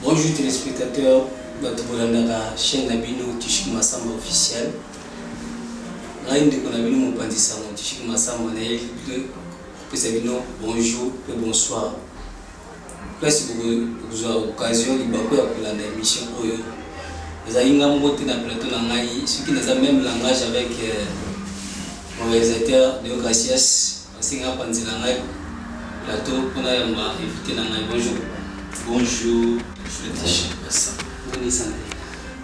Bonjour téléspectateurs, bato bolandaka chaîne na bino Tishiki Masamba officiel. Ngai ndeko na bino mopanzi sango Tishiki Masamba na ye kopesa bino bonjour mpe bonsoir. Place bokozua occasion libaku ya kolanda emission oyo ezali ngai moko te na plateau na ngai soki naza meme langage avec mon realisateur Deo Gracias asenga apanzela ngai plateau mpo nayamba invite na ngai bonjour Bonjour, Fetish Bassa. Boni santé.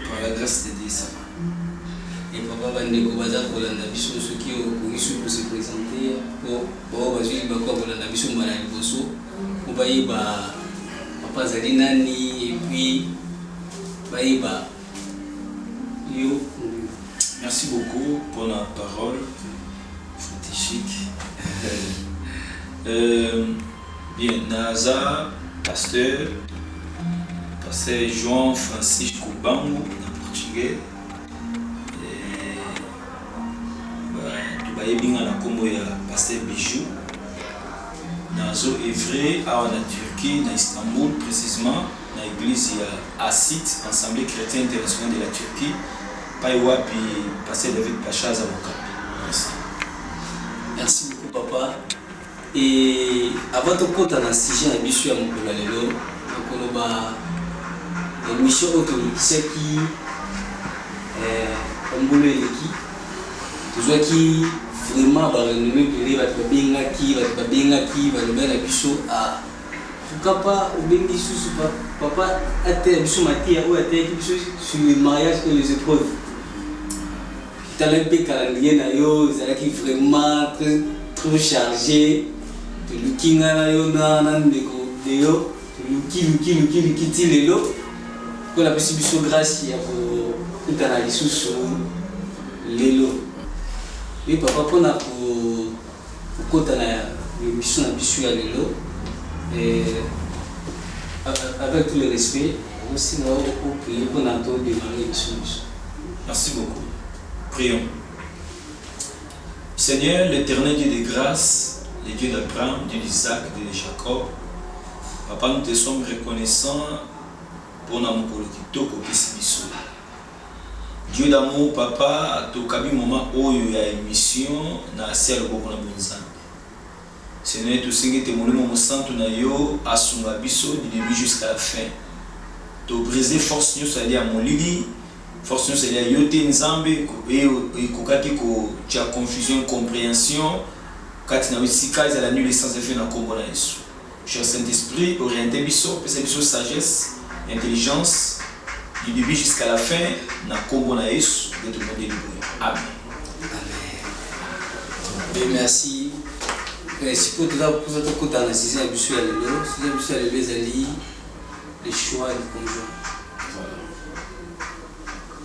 Par la grâce de Dieu, ça va. Et papa bandeko baza kolanda biso soki okoki soki kose présenter mpo Baoyo bazwi libaku ya kolanda biso mbala ya liboso mpo bayeba Papa azali nani et puis bayeba yo. Merci beaucoup pona parole strategique. Euh, bien, naza pasteur, pasteur João Francisco Bango na portugais. Batu bayebi nga na kombo ya Pasteur Bijoux. Nazo oeuvrer awa na Turquie, na Istanbul precisement na eglise ya ACIT, Assemblee Chretienne Internationale de la Turquie, epayi wapi Pasteur David Pacha aza mokambi. Merci. Merci beaucoup papa. Et avant tokota na sujet na biso ya mokolo ya lelo, nakoloba emission oyo tolekisaki eh, mbula eleki tozwaki vraiment barenomme ebele bato babengaki bato babengaki baloba na biso ah, pourquoi pas obengi susu papa ateya biso mateya oyo ateyaki biso sur le mariage et les épreuves Tala mpe calendrier na yo ezalaki vraiment très trop charge toluki ngai na yo na na ndeko deyo toluki luki luki luki ti lelo mpo napesi biso grâce ya kokutana lisusu lelo ye papa mpo na ko Kokota na emission na biso ya lelo avec tout le respect nazo senga yo o prier pona to demarrer emission na biso. Merci beaucoup. Prions. Seigneur, l'Eternel Dieu de grâce, le Dieu d'Abraham, Dieu d'Isaac, Dieu de Jacob, Papa, nous te sommes reconnaissants pona mokolo kitoko opesi biso. Dieu d'amour papa tokabi moment oyo ya emission na se ya loboko na bonzambe seigneur tosengi ete molimo mosantu na yo asunga biso du debut jusqu'à la fin to briser force nioso ezali ya molili force nioso ezali ya yo te nzambe eo ekokaki ko tia confusion incomprehension kati na yo esika ezala nul et sans effet na kombo na yesu Cher Saint Esprit oriente biso pesa biso sagesse, intelligence du debut jusqu'à la fin na kombo na Yesu nde tobondeli boye. Amen. Amen. Merci. Eh, sikoyo toza posa tokota na size ya biso ya lelo size ya biso ya lelo ezali le choix du conjoint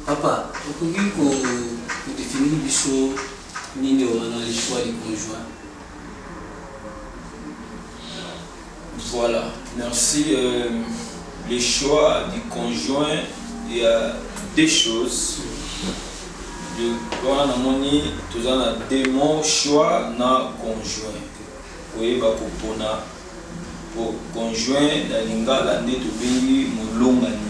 papa okoki kodefinir biso nini wana le choix du conjoint Voilà, merci. Euh, le choix du conjoint, il y a deux choses. De wana namoni toza na deux mots choix na conjoint. Koyeba kopona po conjoint na lingala nde tobengi molongani.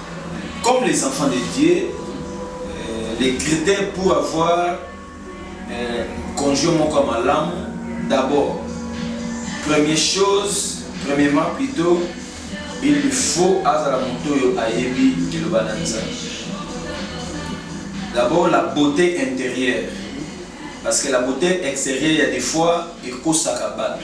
Comme les enfants de Dieu, euh, les critères pour avoir euh, conjoint moko ya malamu, d'abord, première chose, premièrement plutôt, il lui faut azala moto oyo ayebi liloba na Nzambe. D'abord la beauté intérieure, parce que la beauté extérieure il y a des fois ekosaka bato.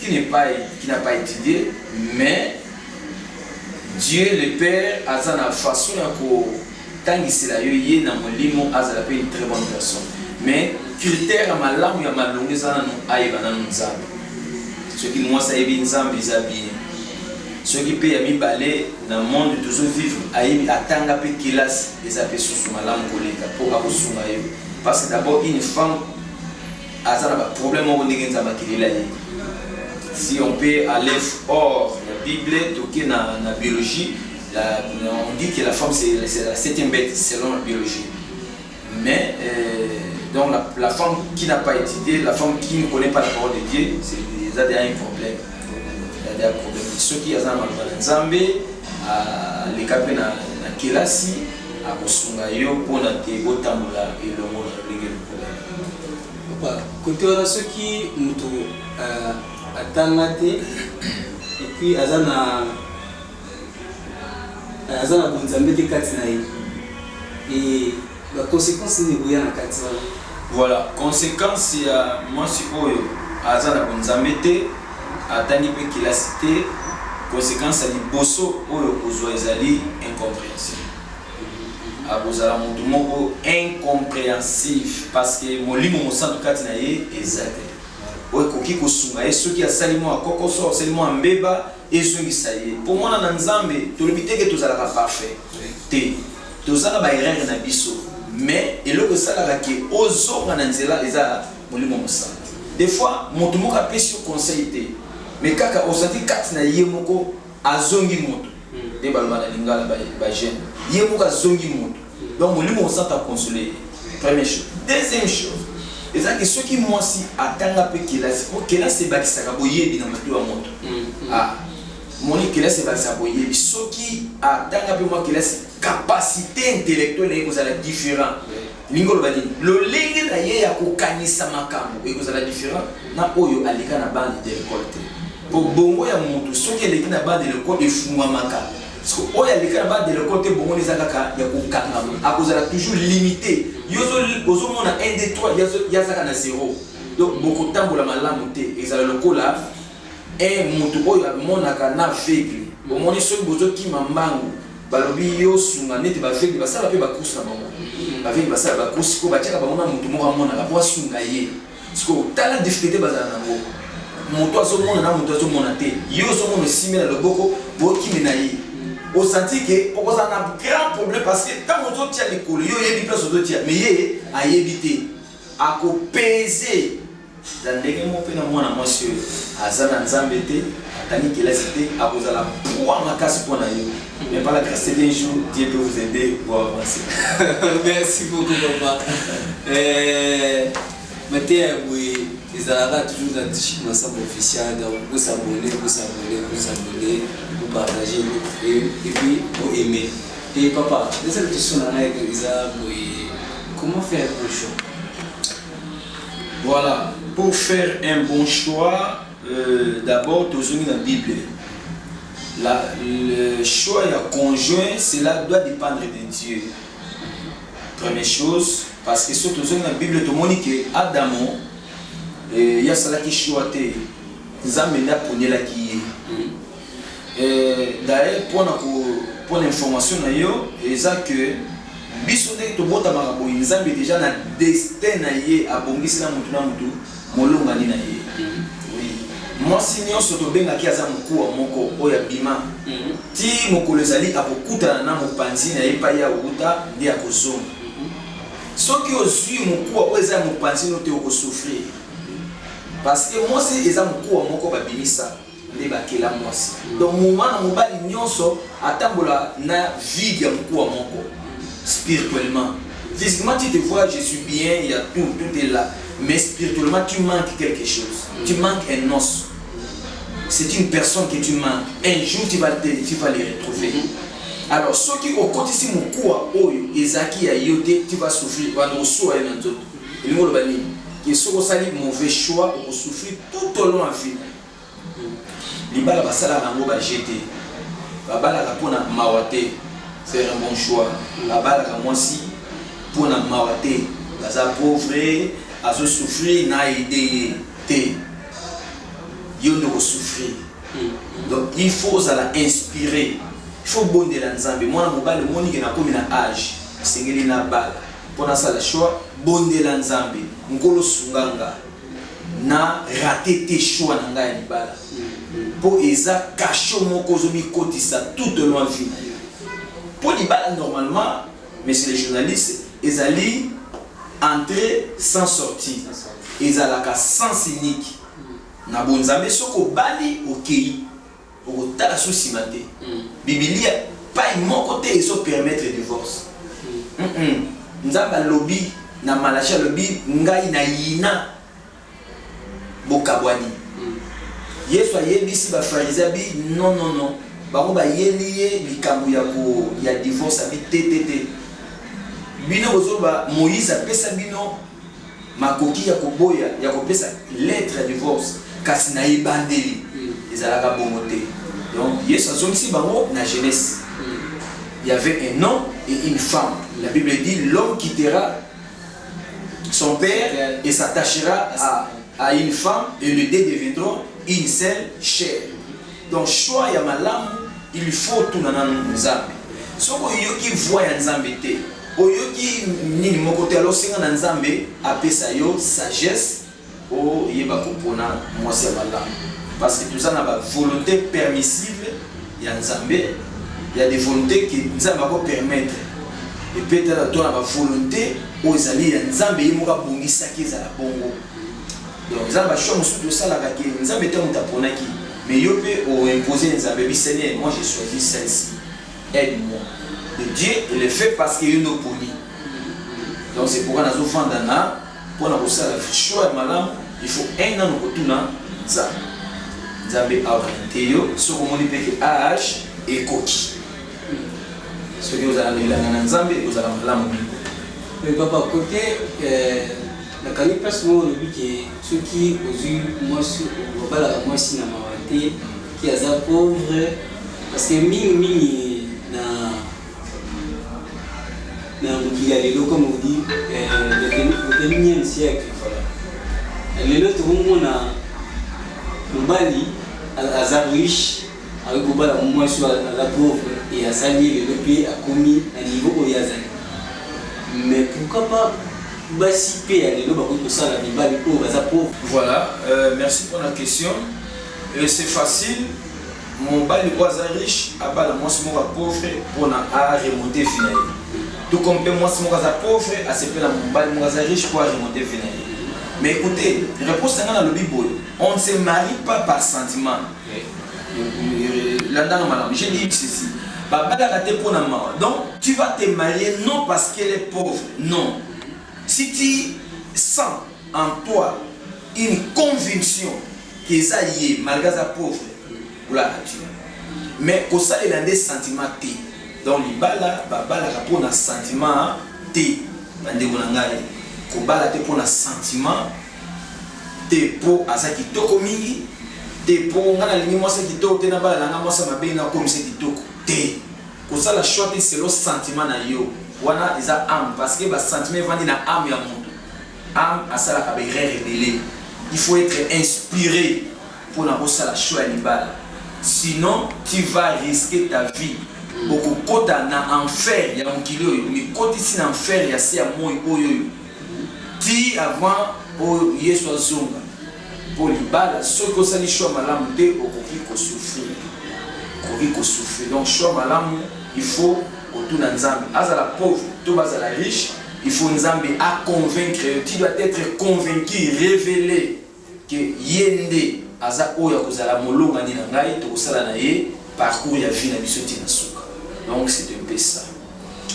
qui n'est pas qui n'a pas étudié mais Dieu le Père aza na façon ya ko tangisela yo ye na molimo azala pe une très bonne personne mais critère ya malamu ya malonga eza nanu ayeba nanu nzambe soki mwasi ayebi nzambe eza bien soki mpe ya mibale na monde tozo vivre ayebi atanga mpe kelasi eza mpe susu malamu koleka mpo akosunga yo parce que d'abord une femme aza na ba problème moko ndenge nzambe akelela ye si on peut aller hors la bible toke na, na biologie la, on dit que la femme c'est la septième bête selon la biologie mais euh, donc la, la femme qui n'a pas étudié la femme qui ne connaît pas la parole de Dieu c'est eza déjà un problème eza déjà problème soki aza na maloba na nzambe aleka mpe na kelasi akosunga yo mpo na te botambola elongo na ndenge Papa, kote wana soki mutu euh, atanga te et puis aza na euh, aza na bonzambe te kati na ye et ba conséquences nini ekoya na kati wana? Voilà, conséquence ya mwasi oyo aza na bonzambe te, atangi mpe kelasi te, conséquence ya liboso oyo okozwa ezali incomprehension. Akozala mutu moko incomprehensif parce que molimo mosantu kati na ye eza te oyo ekoki kosunga ye soki asali mua kokoso asali mua mbeba ezongisa ye po muana na nzambe tolobi te ke tozalaka parfait te toza na ba erreur na biso mais eloko esalaka ke ozonga na nzela eza molimo mosantu de fois mutu moko apesi yo conseil te mais kaka ozalaki kati na ye moko Azongi moto nde baloba na lingala ba jeune ye moko azongi moto donc molimo mosanta a console ye premier chose deuxième chose eza ke soki mwasi atanga pe kelasi po kelasi ebakisaka boyebi na moto ya moto a moni kelasi ebakisaka boyebi soki atanga pe mwa kelasi capacite intellectuelle na ye ekozala different elingi koloba nini lolenge na ye ya kokanisa makambo ekozala different na oyo aleka na bande de lekole te mpo bongo ya motu soki eleki na bande de lekole efungwamaka oyo aleka na bande de lekole te bongo eza kaka ya kokangama akozala toujours limite yo ozomona 1 2 3 yazaka na zero donc bokotambola malamu te ezala lokola Un mutu oyo amonaka n'aveugle omoni soki bozo kima mbangu balobi yo sunga neti b'aveugle basala pe ba course na bango b'aveugle basala ba course sikoyo batiaka bango na mutu moko amonaka po asunga ye sikoyo tala difficulte bazala nango mutu azomona na mutu azomona te yo ozomona osimbi na loboko bokimi na ye osanti ke okozala na grand problème parce que ntango ozotia likolo yo oyebi place ozotia mais ye ayebi te akopeze Na ndenge moko mpe na mwana mwasi oyo aza na Nzambe te, atangi kelasi te, akozala poids makasi mpo na yo, mais par la grace d'un jour Dieu peut vous aider bo avancer. Merci beaucoup papa. Mateya ya boye ezalaka toujours na Tshik Massamba official, donc bo s'abonner, bo s'abonner, bo s'abonner, bo partager et puis bo aimer. Et papa, na seule question na ngai eza boye, comment faire pour jour? Voilà, pour faire un bon choix, euh, d'abord tozongi na Bible. La, le choix ya conjoint, cela doit dépendre de Dieu. Première chose, parce que soki tozongi na Bible tomoni ke Adamo eh, ye asalaki choix te, Nzambe nde aponelaki ye. Euh, d'ailleurs pona ko pona information na yo eza que biso ndenge tobotamaka boye nzambe deja na destin na ye abongisi na motu na motu molongani na ye mhm. mwasi nyonso tobengaki aza mokuwa moko oyo abima mhm. ti mokolo ezali akokutana na mopanzi na ye epai ye awuta nde akozonga mhm. soki ozwi mokuwa oyo eza ya mopanzi no te okosouffrir parce que mwasi eza mokuwa moko babimisa nde bakela mwasi donc mwana mobali nionso atambola na vide ya mokuwa moko spirituellement physiquement tu te vois je suis bien ya tout tout est là mais spirituellement tu manques quelque chose tu manques un os c'est une personne que tu manques un jour tu vas te tu vas les retrouver alors soki okotisi mokuwa oyo ezalaki ya yo te tu vas souffrir wana osuwa ye na nzoto elingi oloba nini ke soki osali mauvais choix okosouffrir tout au long ya vie Libala basala na ngo ba jeux te babalaka pona mawa te faire un bon choix babalaka mwasi pona mawa te baza pauvre azo souffrir na aide ye te yo nde oko souffrir donc il faut ozala inspire il faut bondela nzambe mwana mobali omoni ke nakomi na age esengeli na bala pona sala choix bondela nzambe nkolo sunga nga Na rater te choix na nga ya libala po eza cachot moko ozo mikotisa tout au long ya vie na yo. Po libala normalement monsieur le journaliste ezali entree sans sortie, ezalaka sens unique na bo nzambe soki obali okeyi. Okotala su sima te. Bibilia epai moko te ezo permettre divorce. Nzambe alobi na Malachie alobi ngai na yina bokabwani. Yesu ayebisi ba pharisien abi non non non bango bayeli ye likambo ya ko ya divorce abi te te te bino bozoloba Moïse apesa bino Makoki ya koboya ya kopesa lettre ya divorce, kasi na ebandeli ezalaka bongo te. Donc Yesu azongisi bango na genese. Il y avait un homme et une femme. La Bible dit l'homme quittera son père et s'attachera à, à une femme et les deux deviendront une seule chair. Donc choix ya malamu il faut otuna nanu nzambe soki oyoki voix ya nzambe te oyoki nini moko te alors senga na nzambe apesa yo sagesse oyeba kopona mwasi ya malamu parce que toza na ba volonté permissible ya nzambe ya des volonté que nzambe ako permettre et peut-être to na ba volonté oyo ezali ya nzambe ye moko abongisaki ezala bongo Donc eza ba choix mosusu tosalaka ke Nzambe te moto aponaki mais yo pe o imposer Nzambe bi Seigneur moi j'ai choisi celle-ci aide moi et Dieu il le fait parce que yo nde oponi donc c'est pourquoi nazo fanda na pona kosala choix ya malamu il faut un an okotuna Nzambe Nzambe aoriente yo soki omoni pe ke age ekoki soki ozala na elanga na Nzambe ozala malamu mingi mais papa kote euh... Na kangi place moko olobi ke soki ozui mwasi obalaka mwasi na mawa te ke aza pauvre parce que mingi mingi na na mokili ya lelo comme on dit le vingtième siècle voilà lelo tokomona mobali aza riche Akoki kobala muasi oyo aza pauvre et asali ye lelo pe akomi na niveau oyo ye azali. Mais pourquoi pas basi pe ya lelo bakoki kosala mibali oyo baza pauvre? Voilà merci pona question et c'est facile mobali oyo aza riche abala muasi moko ya pauvre pona a remonter vie na ye tout comme pe muasi moko aza pauvre asepela mobali moko aza riche po a remonter vie na ye mais ecoutez reponse na nga nalobi boye on ne se marie pas par sentiment landanga malam j'ai dit ceci babalaka te mpo na mawa donc tu vas te marier non parce qu'elle est pauvre non si tu sens en toi une conviction qu'eza ye malgré aza pauvre olaka tu mais kosalela nde sentiment te donc libala babalaka mpo na sentiment te bandeko na ngai kobala te mpo na sentiment te po aza kitoko mingi te po nga nalingi mwasi ya kitoko te nabala na nga mwasi ya mabe nakomisa ye kitoko te kosala choix te selon sentiment na yo wana eza ame parce que ba sentiment evandi na ame ya moto ame asalaka ba erreur ebele il faut être inspiré mpo na kosala show ya libala sinon tu vas risquer ta vie okokota na enfer ya mokili oyo mikotisi na enfer ya se ya moi oyo oyo Tii avant po Yesu azonga. Po libala soki osali choix malamu te okoki ko souffrir. Okoki ko souffrir. Donc choix malamu il faut kotuna Nzambe. Azala pauvre to bazala riche, il faut Nzambe a convaincre yo. Tu dois etre convaincu, revele. que ye nde aza oyo akozala molongani na ngai tokosala na ye parcours ya vie na biso ti na suka donc c'est un peu ça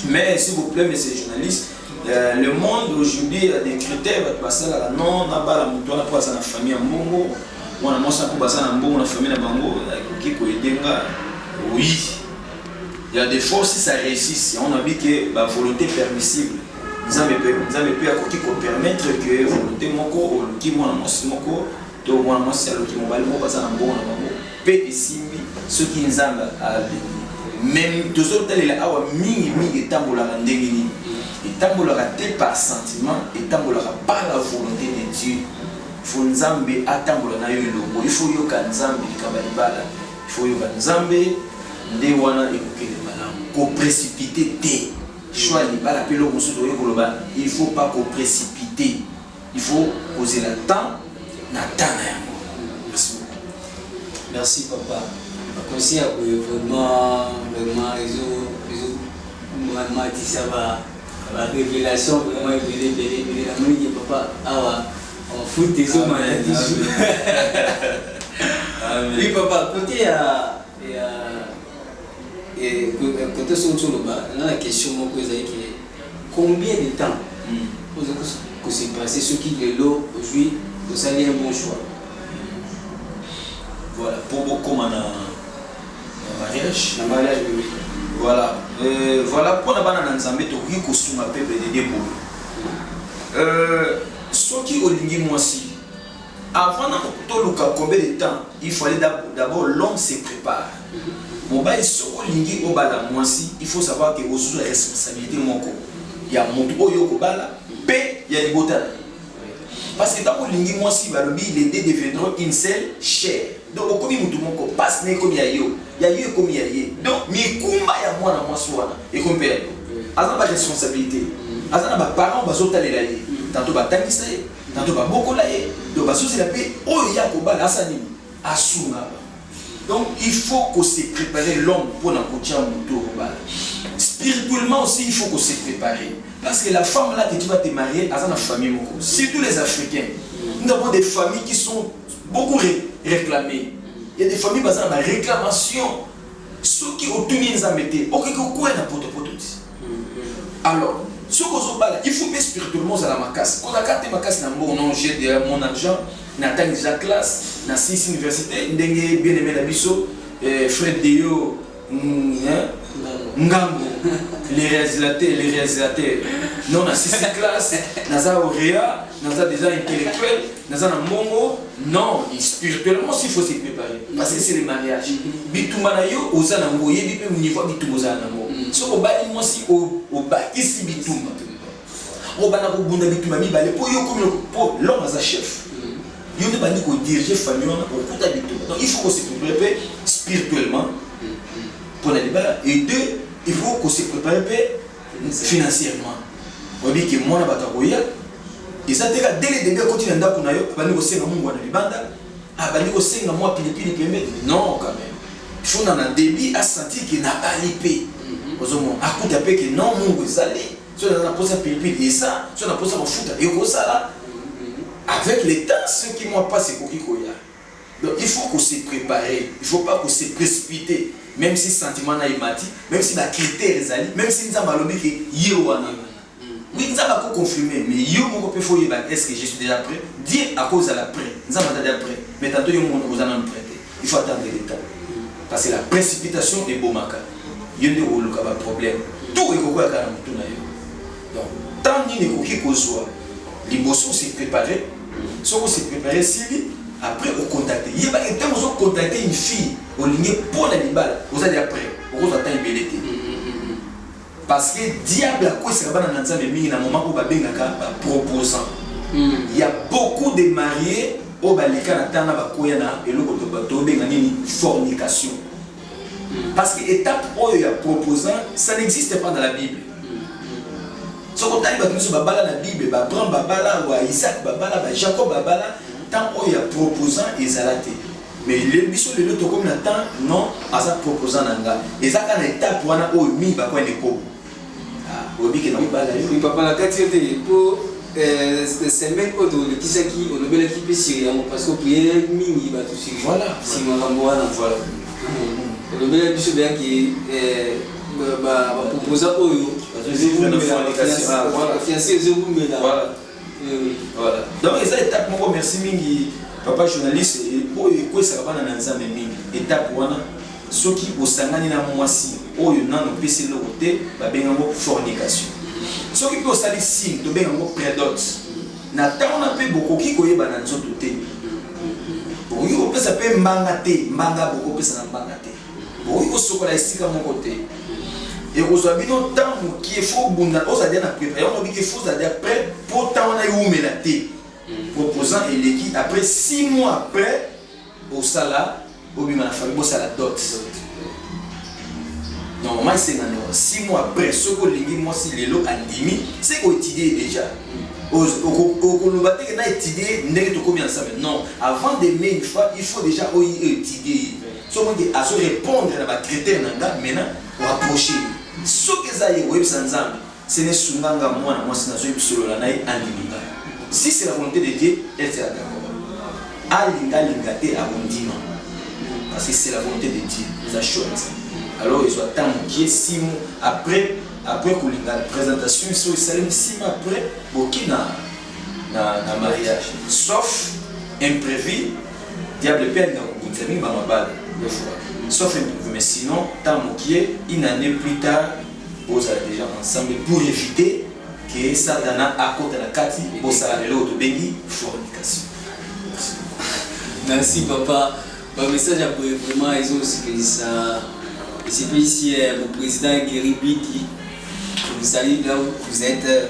mais s'il vous plaît monsieur journaliste euh, le monde aujourd'hui a des critères bato basalaka non nabala moto wana mpo aza na famille ya mbongo mwana mwasi mpo baza na mbongo na famille na bango akoki koyede nga oui il y a des forces ça réussisse yango nabi ke bavolonté permissible Nzambe pe Nzambe pe akoki ko permettre que volonté moko oluki mwana mwasi moko to mwana mwasi aluki mobali moko baza na mbongo na bango pe esimbi soki Nzambe alingi. Mais tozotalela awa mingi mingi etambolaka ndenge nini? Etambolaka te par sentiment, etambolaka par la volonté de Dieu. Il faut Nzambe atambola na yo elongo, il faut oyoka Nzambe likambo ya libala. Il faut oyoka Nzambe nde wana ekokende malamu. Ko precipiter te. Choix ya libala pe eloko mosusu tokoki koloba il faut pas ko precipiter il faut kozela temps na temps na yango. Merci beaucoup. Merci papa ba conseil ya boye vraiment vraiment ezo ezo matisa ba ba revelation vraiment ebele ebele ebele na moni ke papa awa en foot ezo mata toujours. Oui papa côté ya ya Cote soki ozo loba nga na question moko ezali ke combien de temps ozo ko se passer soki lelo ozui osali un bon choix Voilà, po bokoma na mariage. Na mariage oui. Voilà, euh, voilà pona bana na Nzambe tokoki kosunga peuple de Dieu boye. Euh, soki olingi mwasi Avant na toluka combien de temps il fallait d'abord l'homme se prépare. Mobali soki olingi obala mwasi il faut savoir que ozozwa responsabilité moko ya moto oyo okobala mpe ya libota na ye. Parce que ntango olingi mwasi balobi les deux deviendront une seule chair. Donc okomi moto moko, pasi na ekomi ya yo, ya yo ekomi ya ye. Donc mikumba ya mwana mwasi wana ekomi mpe ya yo. Aza na ba responsabilité, aza na ba parents bazotalela ye, tanto batangisa ye Na to ba bokola ye, to ba sosela pe oyo ye akobala asa nini? Asunga bango. Donc il faut ko se preparer l'homme pona kotia moto oyo okobala. Spirituellement aussi il faut ko se preparer. Parce que la femme là que tu vas te marier aza na famille moko. Surtout les africains. Nous avons des familles qui sont beaucoup ré réclamées. Il y a des familles baza na ba réclamations. Soki otuni nzambe te, okoki kokwea na potopoto ti. alors soki ozobala il faut mpe spirituellement ozala makasi kozalaka te makasi na mbongo non j'ai de mon argent natangi déjà classe na six université ndenge bien aimé na biso eh, fred deyo mm, ngambo les réalisateurs les réalisateurs non na six classe naza orea naza déjà intellectuel naza na mbongo non spirituellement aussi faut se préparer parce que c'est le mariage bitumba na yo oza na ngo oyebi mpe niveau ya bitumba ozala na ngo mm. soki obali mwasi obakisi bitumba obanda kobunda bitumba mibale mpo yo okomi mpo lome aza chef mm. yo nde bandi kodirige famille wana okuta bitumba donc il faut kose prépare mpe spirituellement mpo mm, na libala et deux il faut kose prépare mpe financièrement oyebi ke mwana bato akoya eza te kaka dele debe akoti na ndako na yo abandi kosenga mungwa na libanda abandi kosenga mwa pilipili pembe non quand même fona na debi asentir ke nabali mpe mhm. ozomona akuta mpe ke non mungu ezali soki naza na mposa pilipili eza soki na mposa mafuta ekozala mhm. avec le temps soki mwa mpasi ekoki koya Donc il faut ko se preparer, il faut pas ko se precipiter meme si sentiment nayo emati, meme si ba critères ezali, meme si Nzambe alobi que ye wana. Oui Nzambe ako confirmer mais yo moko pe faut oyeba est ce que je suis dejà pret? Dieu ako zala pret, Nzambe aza dejà pret mais tantôt yo moko oza nanu pret te, il faut attendre le temps parce que la precipitation ebomaka, yo nde okoluka ba problèmes, tout ekokweya kaka na mutu nayo. Donc temps nini ekoki kozua liboso o se preparer soki o se preparer esili après o contacter yeba ke ntango ozo contacter une fille olingi mpo na libala oza deja prêt okozwa temps ebele te parce que diable akwesaka bana na nzambe mingi na moment oyo babengaka ba proposant il y a beaucoup de mariés oyo baleka na ntango na bakoya na eloko tobenga nini fornication Parce que étape oyo ya proposant, ça n'existe pas dans la Bible. soki otali bato nyonso babala na bible baabraham babala wa isaac babala ba jacob babala temps oyo ya proposant ezala te mais biso lelo tokomi na temps non aza proposant na nga eza kaka na étape wana oyo mingi bakwani ekobo Oyebi ke nakobala yo. Papa nakati yo te po semaine oyo tolekisaki olobelaki pe sur yango parce que o prier mingi batu sur sur makambo wana olobelaki biso deja ke ba proposa oyo fiance ezowumela. Voilà. Donc eza étape moko merci mingi papa journaliste oyo ekwesaka bana na Nzambe mingi. Étape wana soki osangani na mwasi oyo nano pesi eloko te babenga yango fornication. Soki mpe osali signe tobenga yango predot. Na ntango na mpe bokoki koyeba na nzoto te. Bokoki kopesa mpe mbanga te, mbanga bokopesa na mbanga te. Bokoki kosokola esika moko te. Ekozwa bino temps mokie fo bunda ozala dia na prepare yango nabiki fo ozala dia prêt mpo temps wana ewumela te mm. proposant eleki après 6 mois après osala obima na famille bosala dot normalement esengana 6 mois après soki olingi mwasi lelo andimi se koetidie déjà okoloba teke na etidie ndenge tokomi ensemble non avant de mai une fois il faut déjà oyi etidie Soki nde azo repondre na ba critères na nga maintenant o approcher ye. Soki eza ye oyebisa Nzambe, Seigneur sunga nga mwana mwasi nazo solola na ye andimi nga. Si c'est la volonte de Dieu, elle sera d'accord. Alinga alinga te akondima parce que c'est la volonte de Dieu. Eza choix na Nzambe. Alors ezwa temps mokie, six mois après après kolinga présentation biso esalemi six mois après boki na na, na mariage sauf imprévu Diable pe alinga kobundisa mingi ba mabala deux fois sauf imprévu mais sinon temps mokie une annee plus tard bozala dejà ensemble pour eviter que satana akota na kati bosala lelo oyo tobengi fornication merci papa ba message ya boye vraiment ezosepelisa esepelisi eh, mon président Guéry Bidi vous allez là où vous êtes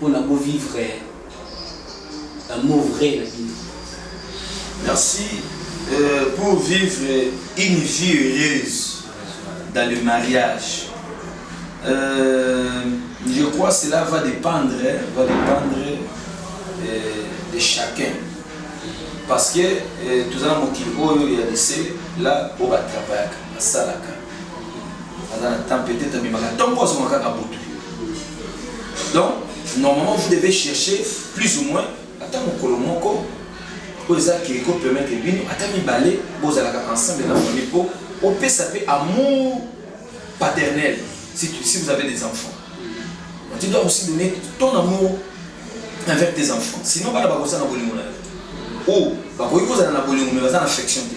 pona bo vivre l'amour vrai na bino. Merci pour vivre une vie heureuse dans le mariage je crois cela va dependre va dependre de chacun parce que toza na mokili oyo ya dese la oyo ba travaillaka basalaka aza na temps peut-être amemaka ntongo azonga kaka butu donc normalement vous devez chercher plus ou moins ata mokolo moko oyo eza ke ekopermettre bino ata mibale bozalaka ensemble na famille mpo opesa mpe amour paternel si, tu, si vous avez des enfants tu dois aussi donner ton amour envers tes enfants sinon bana bakozala na bolingo na yo o bakoki kozala na bolingo me baza na affection te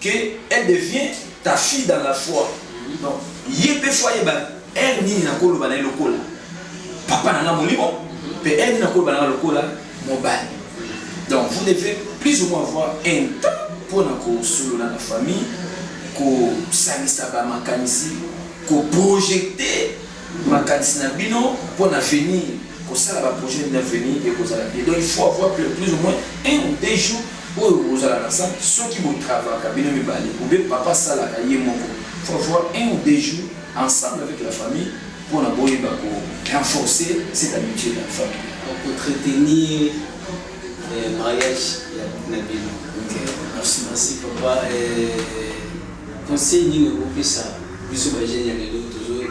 que elle devient ta fille dans la foi donc ye pe faut ayeba heure nini nakoloba na ye lokola papa na nga molimo pe heure nini nakoloba na nga lokola mobali donc vous devez plus ou moins avoir un temps mpona kosolola na famille kosangisa bamakanisi koprojete Makanisi na bino pona avenir kosala ba projet nini avenir ekozala bien donc il faut avoir plus ou moins un ou deux jours oyo bokozala na salle soki bo travaka bino mibale ou bien papa asalaka ye moko il faut avoir un ou deux jours ensemble avec la famille pona boyeba ko renforcer cette amitié là famille donc ko entretenir eh, mariage na bino. Okay. Merci. Merci papa. Eh, conseil nini okopesa Biso ba jeunes ya lelo tozo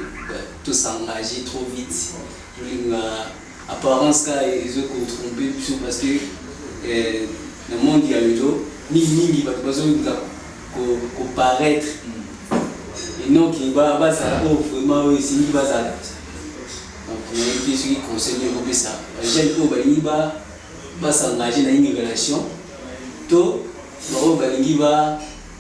to s'engager trop vite, tolinga apparence kaka ezo ko tromper biso parce que na monde ya lelo mingi mingi batu bazo linga ko paraitre et non que bazala oyo vraiment oyo esengi bazala. Donc nayebi te soki conseil nini okopesa ba jeunes oyo balingi ba s'engager na une relation to baoyo balingi ba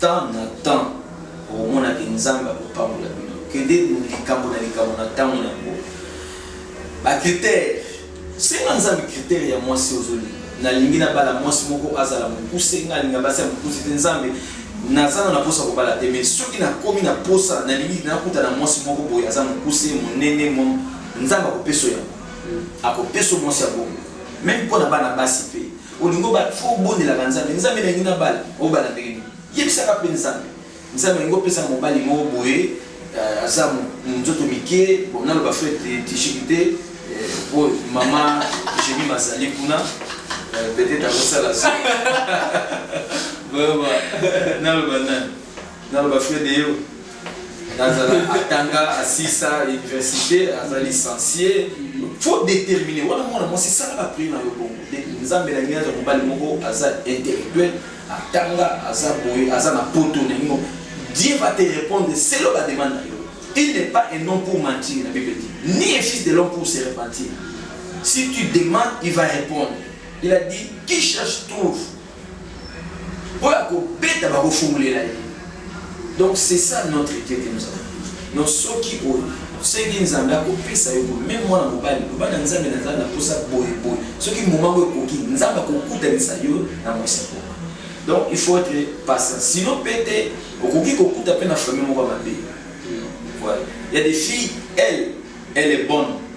Temps na temps okomona ke nzambe akopambola bino kende likambo na likambo na tango na yango ba critère senga nzambe critère ya mwasi ozolinga nalingi na bala mwasi moko azala mokuse nga alinga basi ya mokuse te nzambe nazana na posa kobala te mais soki nakomi na posa nalingi nakuta na mwasi moko boye aza mokuse monene mo nzambe akopeso yango akopeso mwasi ya bongo meme mpo na bana basi mpe olingi obala fo obondelaka nzambe nzambe nalingi nabala obala ndenge nini yebisaka mpe nzambe nzambe alingi opesa mobali moko boye euh, aza nzoto mike bon naloba fo tishiki te euh, po mama jemi mazali kuna euh, peut-être akosala so naloba nani naloba fred eyo nazala atanga asisa université aza licencie faut déterminer wana mwana mwasi sala ba prix na yo bongo nzambe na ngai aza mobali moko aza intellectuel atanga aza boye aza na poto na yango dieu va te répondre selo ba demande na yo il n'est pas un homme pour mentir la bible dit ni un fils de l'homme pour se repentir si tu demandes il va répondre il a dit qui cherche trouve Oyo akobeta bakofungulela ye. Donc c'est ça notre Dieu que nous avons. Donc soki osengi Nzambe akopesa yo boye, meme mwana mobali, loba na Nzambe na Nzambe naposa boye boye. Soki moment oyo ekoki, Nzambe akokutanisa yo na mwasi yango. Donc il faut être patient. Sinon pete okoki kokuta pe na famille moko mabe. Voilà. Il y a des filles, elle, elle est bonne.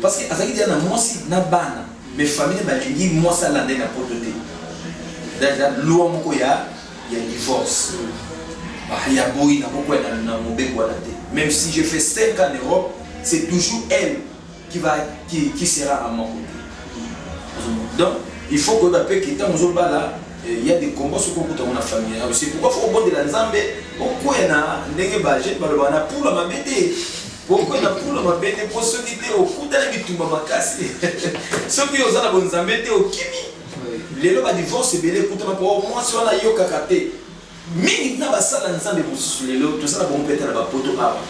Parce que azalaki dejà na mwasi na bana mais famille balingi mwasi alanda ye na poto te dejà loi moko ya ya divorce ya boyi nakokwela na mobeko wana te même si je fais 5 ans en Europe c'est toujours elle qui va qui, qui sera à mon côté donc il faut koyeba mpe ke ntango ozobala il y a des combats soki okuta ngo na famille yango c'est pourquoi faut obondela nzambe okwea na ndenge ba jeune balobaka na pula mabe te Boko na pula mabe te po soki te okuta na bitumba makasi soki oza na bonzambe te okimi lelo ba divorce ebele ekutama po mwasi wana ayokaka te mingi na basala nzambe mosusu lelo toza na bango pete na bapoto awa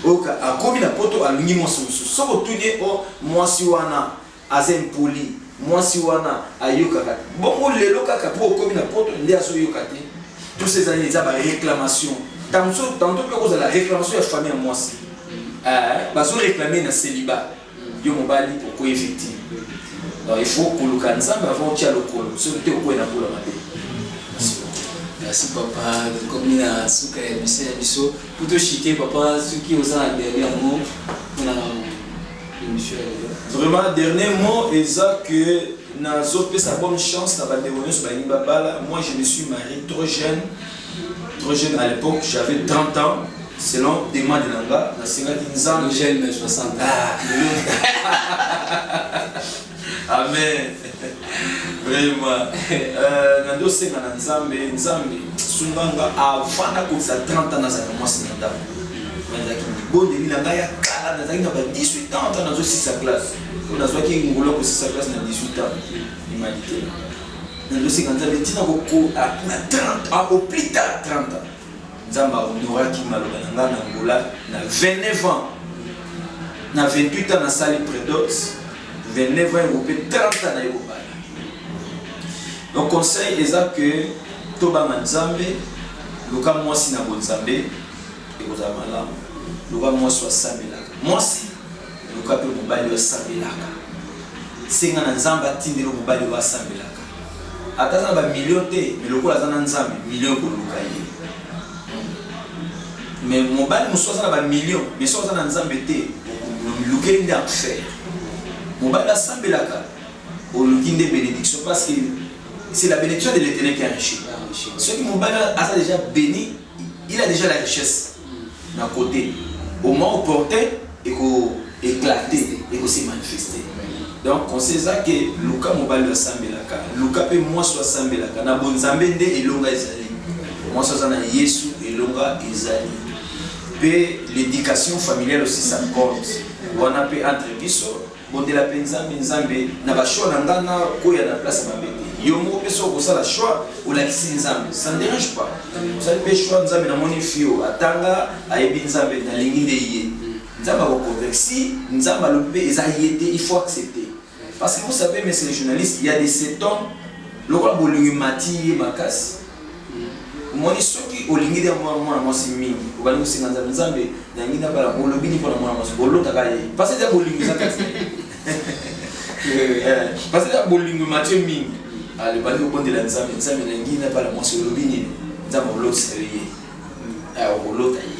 oyoka akomi na poto alingi mwasi mosusu soki otuni o oh, mwasi wana Aza impoli mwasi wana ayokaka te bongo lelo kaka po okomi na poto nde azo yoka te tout ces annees eza ba reclamation tanso tanto pe kozala reclamation ya famille ya mwasi eh, bazo reclamer na celiba yo mobali okoye victime donc il faut koluka nzambe avant otia lokolo soki te okoye na bula mabe merci papa tokomi na suka ya biso ya biso po toshike papa soki oza na bebe yango mpona Emission ya lelo. Vraiment dernier mot eza que nazo pesa bonne chance na bandeko nyonso balingi babala. Moi je me suis marié trop jeune. Trop jeune à l'époque, j'avais 30 ans. Selon demande na nga, nasengaki Nzambe. Jeune mais 60 ans. Ah, Amen. Vraiment. Euh, nando senga na Nzambe, Nzambe sunga nga avant na kosa 30 ans nazala mwasi na ndako. Nazalaki libondeli na ngai ya kala, nazalaki na ba 18 ans ntango nazosisa classe. Mpo nazwaki ngolo kosisa classe na 18 ans. Humanité. Nando senga Nzambe ntina koko na 30 ans au plus tard 30 ans. Nzambe a honoraki maloba na ngai na Angola na 29 ans. Na 28 ans nasali Predots, 29 ans ekope 30 ans naye kobala. Donc conseil eza que tobanga Nzambe, luka mwasi na bonzambe ekozala malamu. Luka mwasi asambelaka. Mwasi Luka mpe mobali oyo asambelaka. Senga na Nzambe atindela yo mobali oyo asambelaka. Ata aza na ba millions te, mais lokola aza na Nzambe, millions ekoluka ye. Mais mobali mosusu aza na ba millions, mais soki aza na Nzambe te, olukeli nde enfer. Mobali asambelaka, oluki nde benediction parce que c'est la benediction de l'Eternel qui enrichit. Soki mobali aza deja beni il a dejà la richesse na cote au moment opportun eko eclate eko se manifeste donc conseil eza ke luka mobali oyo asambelaka luka mpe mwasi oyo asambelaka na bonzambe nde elonga ezali mwasi aza na yesu elonga ezali mpe l'éducation familiale aussi ça compte wana mpe entre biso Bondela pe Nzambe, Nzambe na ba choix na nga na kweya na place ya mabe te. Yo moko pe soki okosala choix olakisi Nzambe ça ne derange pas. Osali pe choix Nzambe na moni fille oyo atanga ayebi Nzambe na lingi nde ye. Nzambe ako convaincre si Nzambe alobi pe eza ye te il faut accepter. Parce que vous savez monsieur le journaliste il ya de cet homme lokola bolingo emati ye makasi. omoni soki olingi nde mwana mwana mwasi mingi obandi kosenga nzambe nzambe nangi nabala olobi nini mpona mwana mwasi olotaka ye mpasi eza bolingo eza kati mpasi eza bolingo mathieu mingi alobandi kobondela nzambe nzambe nangi nabala mwasi olobi nini nzambe olotisa yo ye olota ye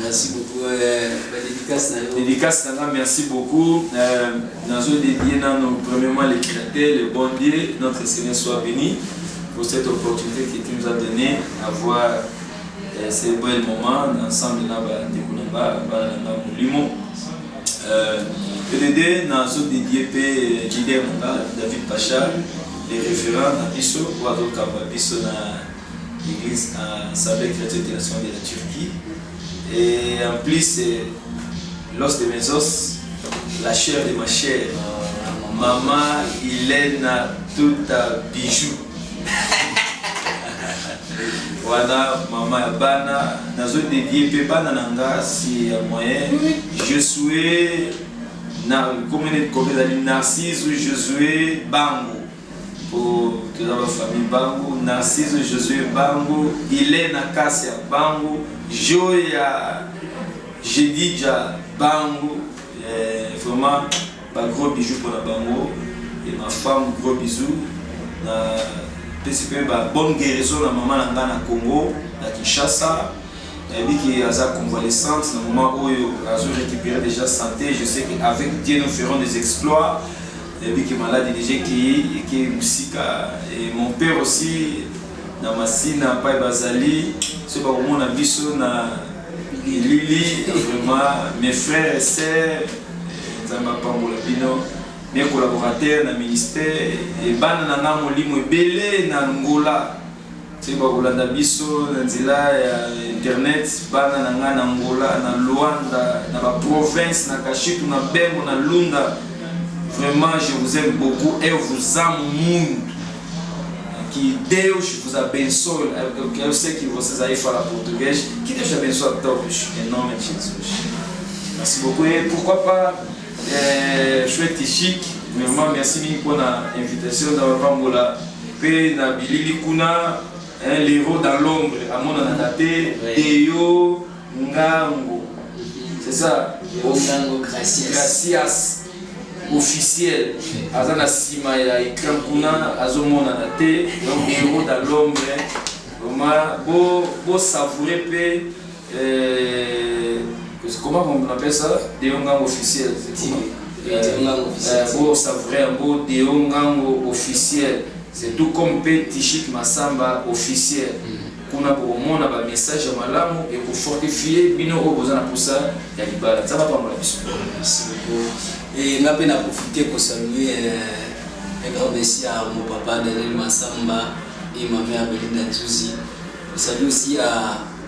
Merci beaucoup euh, ba dédicace na yo. Dédicace na nga merci beaucoup. Euh, nazo dédier nano premièrement le créateur, le bon Dieu, notre Seigneur soit béni pour cette opportunité que tu nous as donné avoir euh, ce bel moment ensemble na ba ndeko na ba ba na molimo. Euh, EDD nazo dédier pe euh, leader na David Pacha, les référents na biso, wazo kamba biso na Eglise na Assemblée Chrétienne Internationale de la Turquie. Et en plus, l'os de mes os, la chair de ma chair, maman Ilena Tuta Bijou. wana mama ya bana nazo dedie mpe bana na nga si ya moyen je souhait na komene kobe ezali narcise josue bango po toza ba famille bangu narciso josue bangu ilena kasia bangu joya jedidja bangu eh, vraiment ba gros bijoux pona bango et ma femme gros bisous na pesi pe ba bonne guérison na maman na nga na congo na kinshasa nayebi ke aza convalescente na moment oyo azo récupérer déjà santé je sais que avec dieu nous ferons des exploits nayebi ke maladi deja ekei ekei mosika e mon père aussi na masina mpai bazali so bakomona biso na elili vraiment mes frères et sœurs nzambe apambola bino mes collaborateurs na ministère ebana na nga molimo ebele na ngola Soki bakolanda biso na nzela ya internet, bana na ngai na Angola, na Luanda, na ba provinces, na Kashitu, na Bembo, na Lunda, vraiment je vous aime beaucoup eu vous amo muito. Que Deus vos abençoe. Eu quero ser que vocês aí falam português. Que Deus abençoe a todos, em nome de Jesus. Merci beaucoup. Et pourquoi pas, euh, chouette et chic, vraiment merci mille pour l'invitation d'avoir pas Pe na bilili kuna eh, l'heros dans l'ombre amonanaka te Deo Ngango c'est ça Deo Ngango Gracias Gracias officiel aza na sima ya écran kuna azomonana te donc l'heros dans l'ombre vraiment bo bo savourer pe Eh, comment on appelle ça Deongango officiel. Deongango officiel. Eh, bon, ça vrai, bon, Deongango officiel. C'est tout comme P. Tichik Massamba officiel. Mm-hmm. kuna bokomona bamessage ya malamu ekofortifie bino oyo boza na mposa ya libala nzambe apambola biso nga mpe na profite kosalue eh, grand messi ya mopapa daniel masamba et ma mère belinda nzuzi esalue aussi ya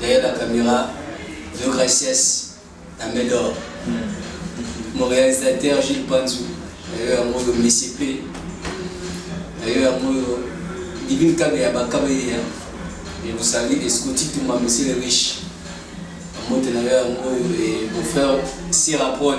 Derrière la camera, le gracias na Medor. Mon réalisateur Gilles Panzu, nayo yango yo Messi P. Nayo yango yo Divine Kabe ya Bakabe ya. Je vous salue et Scotty Touma, monsieur le riche. Amote nayo yango yo et mon frère Sierra Prod.